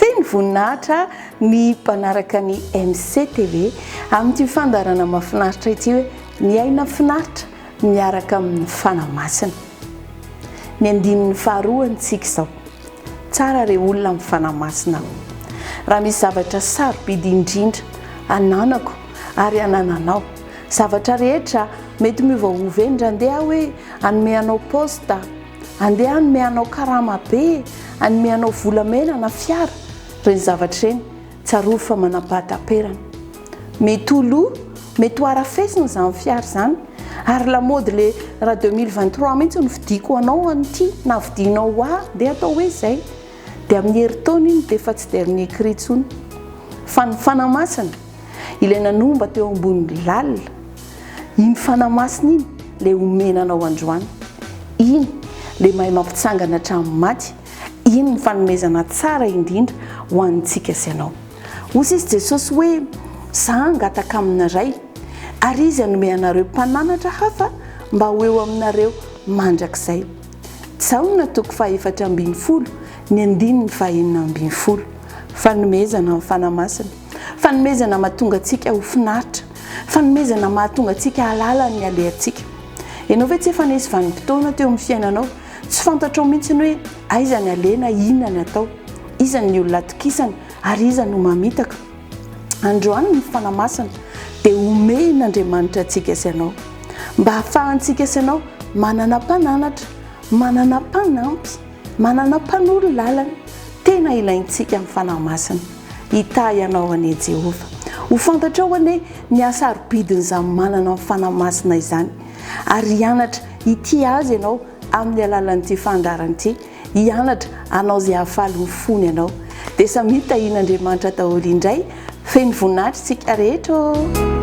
Feno voninahitra ny mpanaraka ny MCTV amin'ity fandaharana mahafinaritra ity hoe Miaina finaritra miaraka amin'ny Fanahy Masina. Ny andininy faharoa antsika izao. Tsara re olona amin'ny Fanahy Masina ô! Raha misy zavatra sarobidy indrindra ananako ary anananao, zavatra rehetra mety miova ho vendrandea hoe, Hanome anao poste, andeha hanome anao karama be, hanome anao volamena na fiara, ireny zavatra ireny tsarovy fa manam-pahataperana. Mety ho lo, mety ho harafesina izany fiara izany, ary lamaody le ra deux mille vingt trois mihitsy no vidiako ho anao an'ity na vidianao ho ahy dia atao hoe izay. Dia amin'ny herintaona iny dia efa tsy dernier cri intsony. Fa ny fanamasina, ilay nanomba teo ambonin'ny lalina, iny fanamasina iny ilay omena anao androany. Iny ilay mahay mampitsangana hatramin'ny maty, iny ny fanomezana tsara indrindra ho antsika sy anao. Hoy sisa Jesosy hoe, Za hangataka amina Ray, ary Izy hanome anareo mpananatra hafa mba ho eo aminareo mandrakizay. Jaona toko fahefatra ambin'ny folo ny andininy fahenina ambin'ny folo. Fanomezana amin'ny Fanahy Masina. Fanomezana mahatonga antsika ho finaritra. Fanomezana mahatonga antsika hahalala ny halehantsika. Ianao ve tsy efa nisy vanim-potoana teo amin'ny fiainanao tsy fantatrao mihitsy hoe aiza ny alena, inona ny atao, iza ny olona atokisana ary iza no mamitaka? Androany ny fotoana masina dia homehin' Andriamanitra antsika sy anao mba hahafahantsika sy anao manana mpananatra, manana mpanampy, manana mpanoro lalana tena ilaintsika amin'ny Fanahy Masina. Hitahy anao anie Jehovah. Ho fantatrao anie ny hasarobidin'izany manana ny Fanahy Masina izany ary hianatra hitia Azy ianao amin'ny alalan'ity fandaharana ity. hianatra hanao izay hahafaly ny fony ianao. Dia samia tahian'Andriamanitra daholo indray feno voninahitra isika rehetra ô!